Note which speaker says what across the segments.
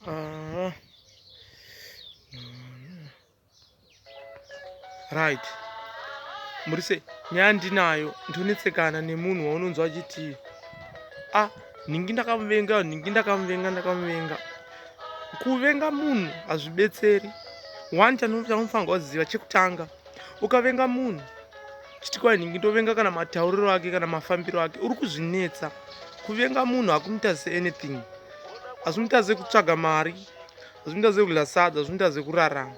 Speaker 1: Ah. Right. Murise, nyaya ndinayo ndonetsekana nemunhu waunonzwa achiti ah nhingi ndakamuvenga nhingi ndakamuvenga ndakamuvenga kuvenga munhu hazvibetseri one chanofanirwa kuziva chekutanga ukavenga munhu chiti kwai ndingi ndovenga kana matauriro ake kana mafambiro ake uri kuzvinetsa kuvenga munhu hakumuita seanything hazvimuita sekutsvaga mari hazvimuita sekudla sadza hazvimuita sekurarama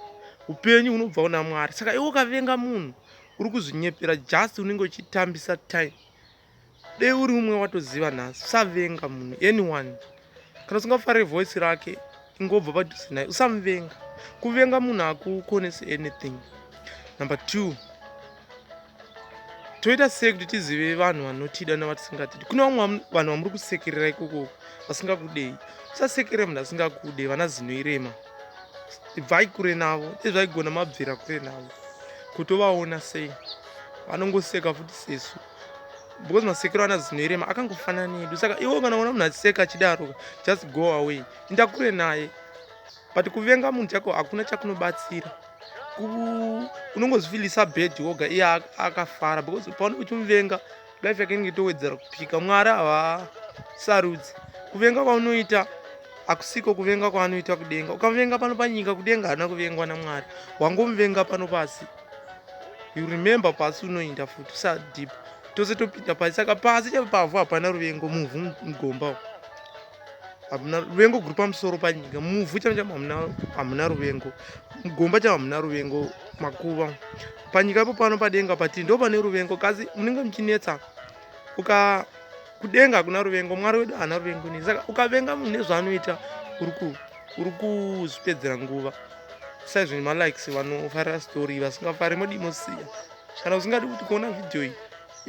Speaker 1: upenyu hunobva una mwari saka iwe ukavenga munhu uri kuzvinyepera just unenge uchitambisa time dei uri umwe watoziva nhasi usavenga munhu anyone kana usingafare voice rake ingobva padhuze naye usamuvenga kuvenga munhu hakukonesi anything number two toita sei kuti tizive vanhu vanotida navatisingatiidi kune vamwe vanhu vamuri kusekerera ikoko vasingakudei usasekerera munhu asingakude vana zinoirema ibvai kure navo ezvaigona mabvira kure navo kutovaona sei vanongoseka futi sesu because masekero ana zino irema akangofanana nedu saka iwo kana ona munhu achiseka achidaroka just go away inda kure naye but kuvenga munhu chako hakuna chakunobatsira unongozvifilisa bed woga iye akafara because paone uchimuvenga life yake inenge itowedzera kupika mwari havasarudzi kuvenga kwaunoita akusiko kuvenga kwaanoita kudenga ukavenga pano panyika kudenga haana kuvengwa namwari wangomuvenga pano pasi you remember pasi unoinda futi usadhipa tose topinda pasi saka pasi chave pavhu hapana ruvengo muvhu mugomba hamuna ruvengo guri pamusoro panyika muvhu chave chavo hamuna ruvengo mugomba chavo hamuna ruvengo makuva panyika ipo pano padenga pati ndo pane ruvengo kasi munenge muchinetsa uka kudenga hakuna ruvengo mwari wedu haana ruvengo nei saka ukavenga munhu nezvaanoita uri kuzvipedzera nguva saizvo nemalikes vanofarira story vasingafari modi mosiya kana usingadi kuti kuona vhidhiyo iyi